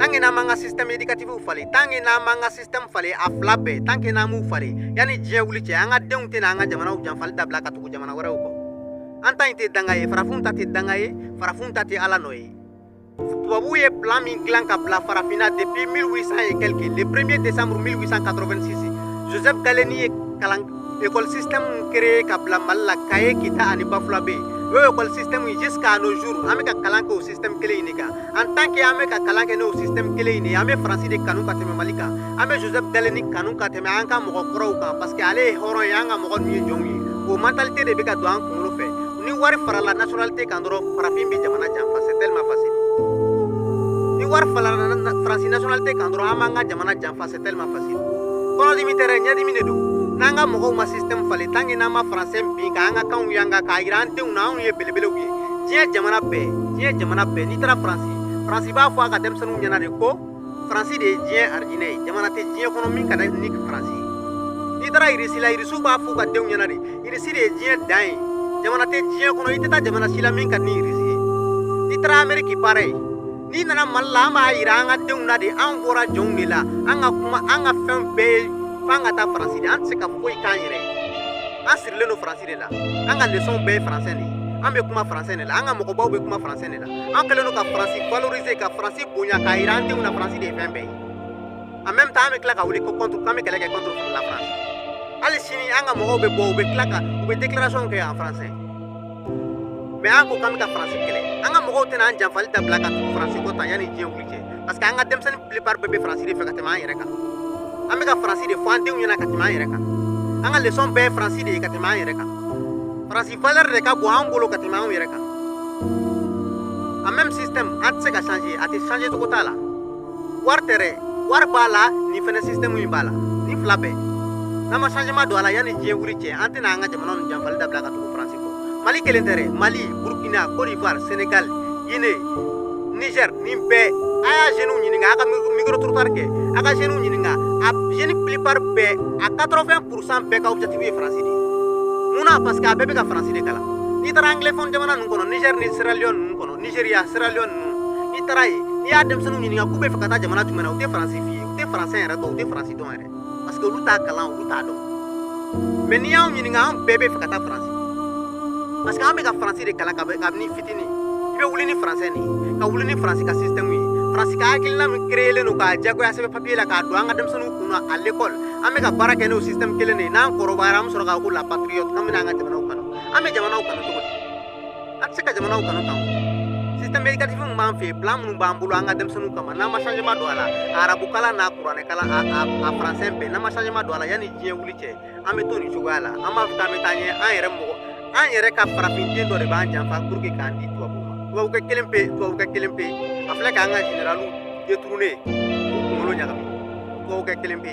tant que n'an m'an ka système éducatif falen tant que n'an m'an ka système falen a fila bɛɛ tant que n'an m'u falen yanni diɲɛ wuli cɛ an ka denw tɛna an ka jamanaw janfali dabila ka tugu jamana wɛrɛw kɔ an ta in tɛ danga ye farafinw ta tɛ danga ye farafinw ta tɛ ala nɔ ye tubabuw ye plan min dilan ka bila farafinna depuis 1800 et quelques le 1er décembre 1886 joseph gallieni ye kalan École système créé ka bila Mali la Kayes, Kita ani Bafulabɛ yen. O école système jusqu'à nos jours an bɛ ka kalan kɛ o système kelen in de kan. En tant que an bɛ ka kalan kɛ n'o système kelen in de ye, an bɛ Faransi de kanu ka tɛmɛ Mali kan. An bɛ Joseph Gallieni kanu ka tɛmɛ an ka mɔgɔ kɔrɔw kan parce que ale ye hɔrɔn ye, an ka mɔgɔ ninnu ye jɔnw ye. O mentalité de bɛ ka don an kunkolo fɛ. Ni wari farala nationalité kan dɔrɔn farafin bɛ jamana janfa, c'est tellement facile. Ni wari farala Faransi nationalité kan dɔrɔn an b'an ka jamana janfa. tellement facile kɔnɔdimi tɛ dɛ ɲɛdimi de don n'an ka mɔgɔw ma système falen tant que n'an ma français bin k'an ka kanw yanga k'a yira an denw na anw ye belebelew ye diɲɛ jamana bɛɛ diɲɛ jamana bɛɛ n'i taara faransi faransi b'a fɔ a ka denmisɛnninw ɲɛna de ko faransi de ye diɲɛ arijinɛ ye jamana tɛ diɲɛ kɔnɔ min ka di ni faransi ye n'i taara irisi la irisiw b'a fɔ u ka denw ɲɛna de irisi de ye diɲɛ dan ye jamana tɛ diɲɛ kɔnɔ i tɛ taa jamana si la min ka di ni irisi ye n'i taara ameriki pareil n'i nana mali la an b'a yira an ka denw na de an bɔra jɔnw de la an ka kuma an ka fɛn bɛɛ ye f'an ka taa faransi de an tɛ se ka foyi k'an yɛrɛ ye an sirilen don faransi de la an ka lesɔnw bɛɛ ye faransɛ de ye an bɛ kuma faransɛ de la an ka mɔgɔbaw bɛ kuma faransɛ de la an kɛlen don ka faransi valoriser ka faransi bonya k'a yira an denw na faransi de ye fɛn bɛɛ ye en même temps an bɛ tila ka wuli ko contre k'an bɛ kɛlɛ kɛ contre la france hali sini an ka mɔgɔw bɛ bɔ u bɛ tila ka u bɛ déclaration kɛ en français mais an ko k'an bɛ ka faransi kɛlɛ an ka mɔgɔw tɛna an janfali dabila ka tugu faransi kɔ tan yanni diɲɛ wuli cɛ parce que an ka denmisɛnnin plupart bɛɛ bɛ faransi de fɛ ka tɛmɛ an yɛrɛ kan an bɛ ka faransi de fɔ an denw ɲɛna ka tɛmɛ an yɛrɛ kan an ka lesɔn bɛɛ ye faransi de ye ka tɛmɛ an yɛrɛ kan faransi valeur de ka bon an bolo ka tɛmɛ anw yɛrɛ kan a même système an tɛ se ka changer a tɛ changer cogo t'a la wari tɛ dɛ wari b'a la nin fɛnɛ système in b'a la nin fila bɛɛ n'an ma changement don a la yanni diɲɛ wuli cɛ an tɛna an ka jamana ninnu janfali dabila ka tugu faransi kɔ mali kelen tɛ dɛ mali burkina côte d'ivoire sénégal guinée niger nin bɛɛ a y'a jeunes ɲininka a ka micro trottoir kɛ a ka jeunes ɲininka a jeunes plupart bɛɛ a 80 pourcent bɛɛ ka objectif ye faransi de ye mun na parce que a bɛɛ bɛ ka faransi de kalan n'i taara anglophone jamana ninnu kɔnɔ niger ni sierra leone ninnu kɔnɔ Nigeria Sierra Leone ninnu n'i taara yen n'i y'a denmisɛnninw ɲininka k'u bɛ fɛ ka taa jamana jumɛn na u tɛ faransi f'i ye u tɛ faransi yɛrɛ dɔn u tɛ faransi dɔn yɛrɛ parce que olu t'a kalan olu t'a dɔn mais n'i y'anw ɲininka an bɛɛ bɛ fɛ ka taa faransi parce que an bɛ ka faransi de kalan kabini fitini i bɛ wuli ni faransɛ nin ye ka wuli ni faransi ka système ye faransi ka hakilina min kereyelen don k'a jagoya sɛbɛn papier la k'a don an ka denmisɛnninw kun na à l'école an bɛ ka baara kɛ n'o système kelen de ye n'an kɔrɔbayara an bɛ sɔrɔ ka ko la patriote an bɛna an ka jamanaw kanu an bɛ jamanaw kanu cogo di a tɛ se ka jamanaw kanu kan système éducatif min b'an fɛ yen plan minnu b'an bolo an ka denmisɛnninw kama n'an ma changement don a la a arabu kalan n'a kuranɛ kalan a a a français bɛɛ n'an ma changement don a la yanni diɲɛ wuli cɛ an bɛ to nin cogoya la an b'a fɔ k'an bɛ taa ɲɛ an yɛrɛ mɔgɔ an yɛrɛ ka farafin den dɔ de b'an janfa pour que k'an di tubabu ma tubabukɛ kelen pe tubabukɛ kelen pe a filɛ k'an ka généraliw détourné k'u kunkolo ɲagami tubabukɛ kelen pe